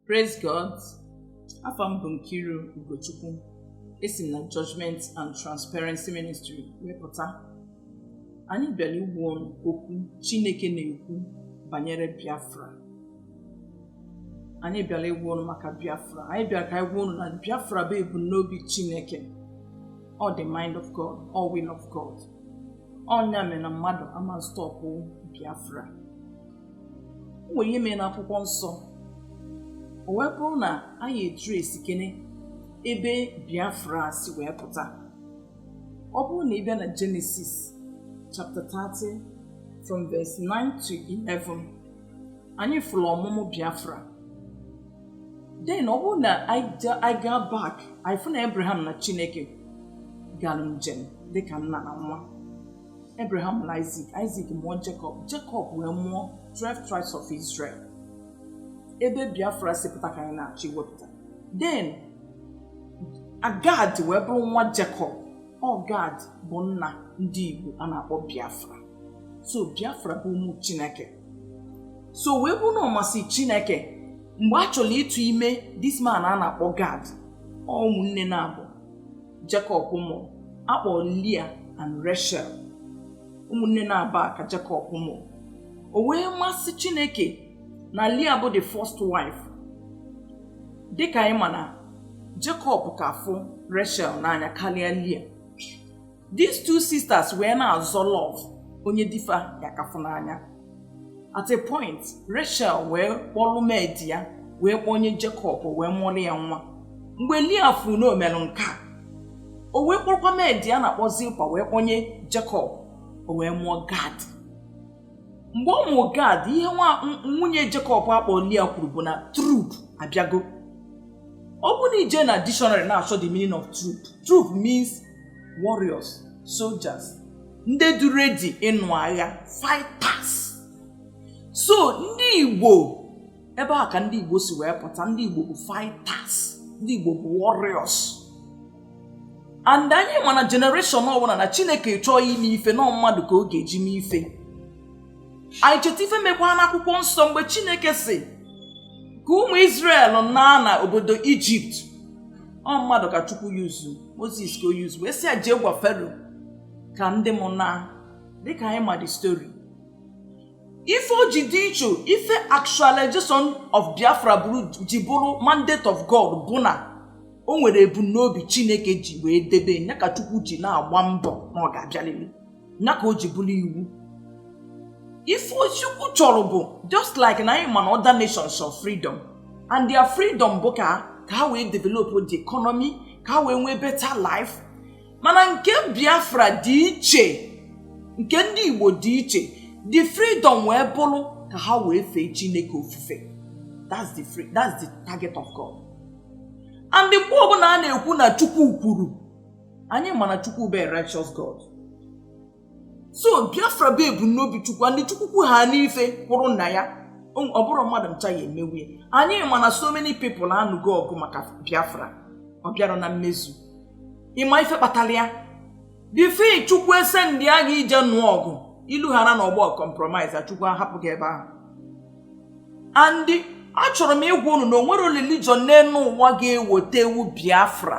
Praise God. Afa m bụ Nkiru Ugochukwu. Esi m na Judgment and Transparency Ministry wee pụta. Anyị bịara ịgwa ụnụ okwu Chineke na-ekwu banyere Biafra. Anyị bịara ịgwa ụnụ maka Biafra. Anyị bịara ka anyị gwa ụnụ na Biafra bụ ebumnobi Chineke. Ọ the mind of God, ọ will of God. Ọ nya mere na mmadụ ama stọpụ Biafra. nwere ihe mere n'akwụkwọ nsọ o wee bụrụ na anyị tracekene ebe biafra si wee pụta ọ bụrụ na ị bịa na genesis chapter 30 from verse 9 to 11 anyị fụrụ ọmụmụ biafra then ọ bụrụ na anyị gaa back anyị fụ na abraham na chineke gara njem dịka nna na nwa Abraham mụrụ Isaac, Isaac mụọ Jacob, Jacob wee mụọ 12 tribes of Israel. Ebe Biafra si pụta ka anyị na-achọ iwepụta. Then Gad wee bụrụ nwa Jacob. Ọ Gad bụ nna ndị Igbo a na-akpọ Biafra. So Biafra bụ ụmụ Chineke. So wee bụrụ na ọ masị Chineke mgbe a chọrọ ịtụ ime this man a na-akpọ Gad ọ ụmụnne naabọ Jacob nụrụ a kpọrọ Leah and Rachel ụmụnne naabọ a ka Jacob nụrụ o wee masị Chineke na Leah bụ the first wife dịka anyị ma na Jacob ka fụ Rachel n'anya karịa Leah these two sisters wee na-azọ love onye di fa ya-aka afụ n'anya at a point rachel wee kpọlụ maid ya wee kpọnye jacob wee mụọlụ ya nwa mgbe leah fụrụ na o melụ nke a o wee kpọrọkwa maid ya a na-akpọ zilpah wee kpọnye jacob o wee mụọ gad mgbe ọ mụrụ gad ihe nwa nwunye jacob a kpọ leah kwuru bụ na troop abịago ọ bụrụ na i jee na dictionary na-achọ the meaning of troop troop means warriors soldiers ndị dị ready ịnụ agha fighters so ndị igbo ebe a ka ndị igbo si wee pụta ndị igbo bụ fighters ndị igbo bụ warriors and anyị ma na generation ọbụla na chineke chọọ ime ife na ọ mmadụ ka ọ ga-eji mee ife anyị cheta ife mekwa n'akwụkwọ nsọ mgbe chineke sị ka ụmụ Israel naa na obodo egypt ọ mmadụ ka chukwu yuzu moses ka o yuzu wee sị ya jee gwa pharaoh ka ndị m naa dịka anyị ma the story ife o ji dị iche ife actualization of biafra bụrụ ji bụrụ mandate of god bụ na o nwere ebumnobi chineke ji wee debe nya ka chukwu ji na-agba mbọ na ọ ga-abịalili nya ka o ji bụrụ iwu ife chukwu chọrọ bụ just like na anyị ma na other nations of freedom and their freedom bụ ka ka ha wee develop the economy ka ha wee nwee better life mana nke biafra dị iche nke ndị igbo dị iche the freedom wee bụrụ ka ha wee fee chineke ofufe that's the free that's the target of god and mgbe ọbụla a na-ekwu na chukwu kwuru anyị ma na chukwu bụ a righteous god so biafra bụ ebumnobi chukwu and chukwu kwu ha n'ife kwụrụ na ya ọ bụrọ mmadụ ncha ya emewu ya anyị ma na so many people anụgo ọgụ maka biafra ọ bịarọ na mmezu ị ma ife kpatara ya before chukwu ese ndị agha ije nụọ ọgụ ilu hara na ọgbọ compromise chukwu ahapụ gị ebe ahụ and achọrọ m ịgwa unu na o nwerọ religion n'elu ụwa ga-ewotewu biafra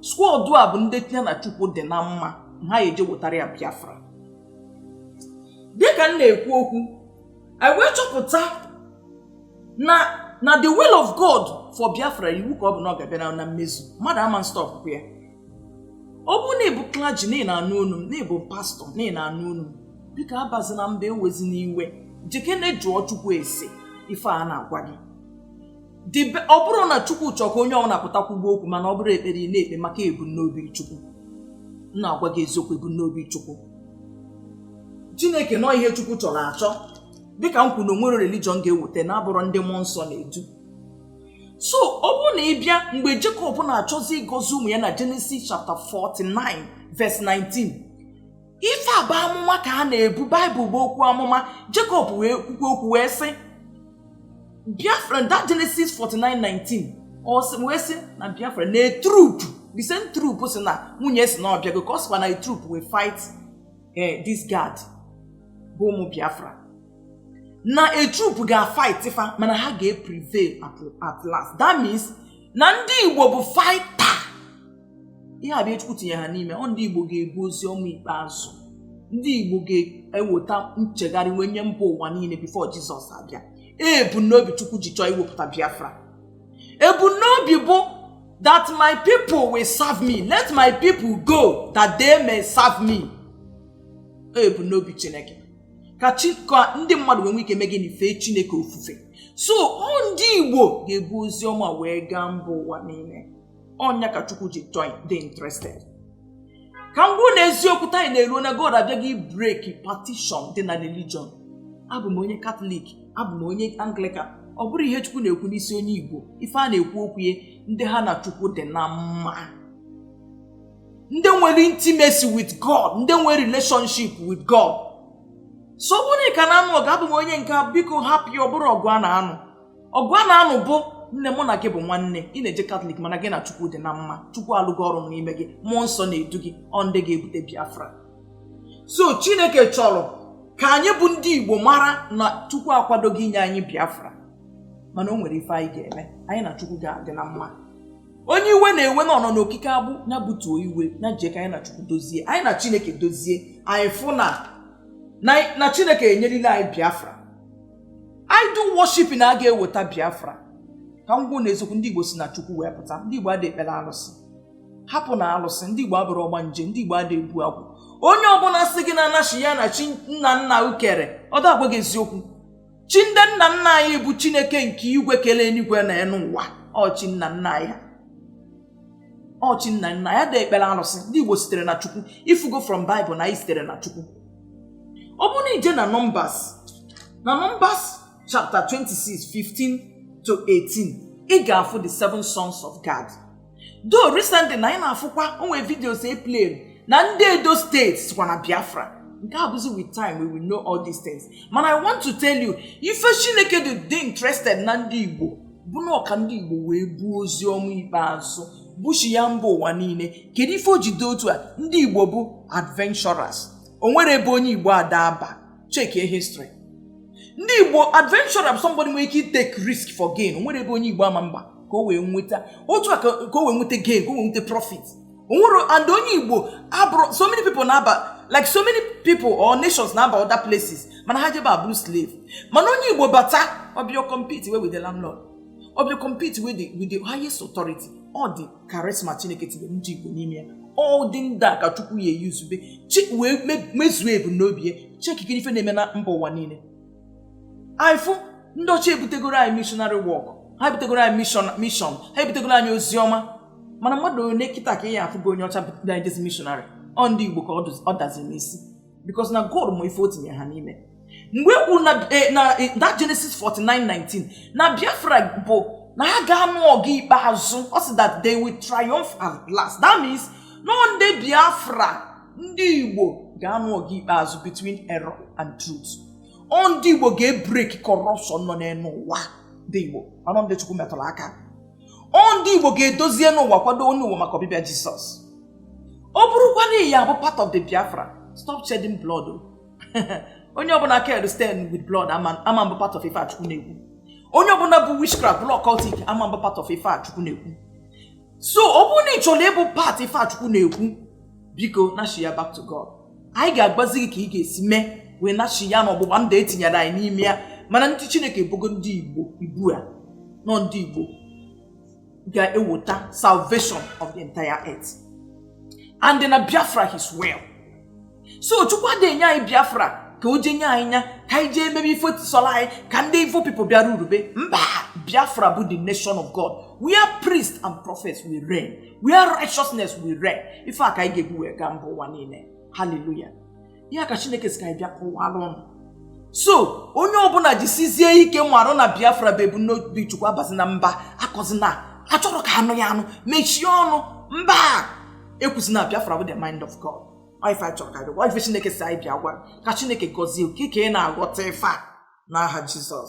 squad a bụ ndị ya na chukwu dị na mma ha eje wetara ya biafra dịka m na-ekwu okwu i wee chọpụta na na the will of god for biafra iwu ka ọ bụ na ọ ga-abịa na- na mmezu mmadụ ama nstọpụ ya ọ bụrụ na ị bụ clergy na ị na-anụ olu m na ị bụ pastor na ị na-anụ olu m biko abazina mba ewezina iwe jekene jụọ chukwu ese ife a na-agwa gị Ọ bụrụ na Chukwu chọọ ka onye ọbụla pụta kwuba okwu mana ọ bụrụ ekpere ị na-ekpe maka ebumnobi Chukwu. M na-agwa gị eziokwu ebumnobi Chukwu. Chineke na ọ ihe Chukwu chọrọ achọ dịka m kwuru na o nwerọ religion ga-eweta na-abụrọ ndị mmụọ nsọ na-edu so ọ bụrụ na ị bịa mgbe Jekọb na-achọzi ịgọzi ụmụ ya na Genesis chapter 49 verse 19 ife a bụ amụma ka a na-ebu baịbụl bụ okwu amụma jekọb wee kwukwe okwu wee sị biafra that genesis 49:19 ọ sị wee sị na biafra na a troop the same troop si na nwunye si na ọbịago ka ọ sịkwa na a troop will fight eh, this gad bụ ụmụ biafra na a troop ga-fight fa mana ha ga-prevail at last that means na ndị igbo bụ fighter ihe a bụ ihe Chukwu tinye ha n'ime ọ ndị Igbo ga-ebu ozi ọma ikpeazụ ndị Igbo ga-eweta nchegharị wee nye mba ụwa niile before Jizọs abịa ebumnobi Chukwu ji chọọ iwepụta Biafra ebumnobi bụ that my people will serve me let my people go that they may serve me ebumnobi Chineke ka ndị mmadụ wee nwee ike mee gịnị fee Chineke ofufe so ọ ndị Igbo ga-ebu ozi ọma wee gaa mba ụwa niile ọ nya ka chukwu ji chọọ ịdị interested ka m gwa ụnụ eziokwu taa anyị na-eruo na god abịago ibreki patishọn dị na religion abụ m onye katọlik abụ m onye anglikan ọ bụrọ ihe chukwu na-ekwu n'isi onye igbo ife a na-ekwu okwu ya ndị ha na chukwu dị na mma ndị nwere intimacy with god ndị nwere relationship with god so ọ bụrụ na ị ka na-anụ ọgụ abụ m onye nke a, biko hapụ ya ọ bụrọ ọgụ a na-anụ ọgụ a na-anụ bụ nne mụ na gị bụ nwanne ị na-eje katọlik mana gị na chukwu dị na mma chukwu alụgo ọrụ n'ime gị mmụọ nsọ na-edu gị ọ ndị ga-ebute biafra so chineke chọrọ ka anyị bụ ndị igbo mara na chukwu akwadogo inye anyị biafra mana o nwere ife anyị ga-eme anyị na chukwu ga-adị na mma onye iwe na-ewe na ọnọ n'okike agbụ ya butuo iwe ya jee ka anyị na chukwu dozie anyị na chineke dozie anyị fụ na na chineke enyerila anyị biafra idol worship na a ga-eweta biafra ka m gwa ụnụ eziokwu ndị igbo si na chukwu wee pụta ndị igbo ada ekpere alụsị hapụ na alụsị ndị igbo abụrọ ọgbanje ndị igbo ada ebu agwụ onye ọbụla sị gị na anachi ya na chi nna nna ukere ọ da agwa gị eziokwu chi ndị nna nna anyị bụ chineke nke igwe kele enuigwe na enu ụwa ọ chi nna nna anyị ha ọ chi nna nna anyị ada ekpere alụsị ndị igbo sitere na chukwu ị fụgo from bible na anyị sitere na chukwu ọ bụrụ na i je na nọmbas na nọmbas chapter 26 15 to 18 ị ga-afụ the seven sons of gad though recently na anyị na-afụkwa o nwe videos e played na ndị edo steeti sokwa na biafra nke a bụzi with time we will know all these things mana i want to tell you ife chineke ji dị interested na ndị igbo bụ na ọ ka ndị igbo wee buo ozi ọma ikpeazụ bushi ya mba ụwa niile kedu ife o ji dị otu a ndị igbo bụ adventurers o nwerọ ebe onye igbo ada aba chekie history ndị igbo adventurers somebody nwere ike take risk for gain o nwerọ ebe onye igbo ama aba ka o wee nweta otu a ka ka o wee nweta gain ka o wee nweta profit o nwere and onye igbo abụrọ so many people na-aba like so many people or nations na-aba other places mana ha je bịa bụrụ slave mana onye igbo bata ọ bịa compete with the landlord ọ bịa compete with the, with the highest authority ọ ụdị charisma chineke tinye ndị igbo n'ime ya ọ ụdị ndị a ka chukwu ya eyuzube chi wee me- mezuo ebumnobi ya cheki kirie ife na-eme na mba ụwa niile anyị fụ ndị ọcha ebutegoro anyị missionary work ha ebutegoro anyị mission mission ha ebutegoro anyị ozi ọma mana mmadụ one kịta ka ị ya-afụ bụ onye ọcha bịa ejezi mishonarị ọ ndị igbo ka ọ dazi n'isi bikos na god ma ife o tinye ha n'ime mgbe e kwuru na eh, na eh, that genesis 49:19 na biafra bụ na ha ga-anụ ọgụ ikpeazụ ọ sị that they will triumph at last that means na ndị biafra ndị igbo ga-anụ ọgụ ikpeazụ between error and truth ọ ndị igbo ga-ebrek corruption nọ n'enu ụwa ndị igbo anọ ndị chukwu metụrụ aka ọ ndị igbo ga-edozi enu ụwa kwado enu ụwa maka ọbịbịa jisọs ọ bụrụkwa na ị ya-abụ part of the biafra stop shedding blood onye ọbụla aka ya stain with blood ama abụ part of ife chukwu na-ekwu onye ọbụla bụ witchcraft bụrụ occultic ama abụ part of ife chukwu na-ekwu so ọ bụrụ na ị chọrọ ịbụ part ife chukwu na-ekwu biko nashia back to god anyị ga-agbazi gị ka ị ga-esi mee wee nashia n'ọgbụgba ndụ e tinyere anyị n'ime ya mana ndị chineke bogo ndị igbo ibu a na ọ ndị igbo ga-eweta salvation of the entire earth and na biafra as well so chukwu adịghị enye anyị biafra ka o jee nye anyị nya ka anyị jee emebe ife sọrọ anyị ka ndị evil people bịa rulebe mba biafra bụ the nation of god where priests and prophets will reign where righteousness will reign ife a ka anyị ga-ebu wee gaa mba ụwa niile haleluya ya ka chineke si ka anyị bịa kọwara ụnụ so onye ọbụla jisizie ike marụ na biafra bụ ebumnobi chukwu abazina mba akọzina achọrọ ka a nụ ya anụ mechie ọnụ mba ekwuzina biafra bụ the mind of god ife anyị chọrọ ka anyị bịa gwa ife chineke si anyị bịa gwa ka chineke gọzie gị ka ị na-aghọta ife a n'aha jizọs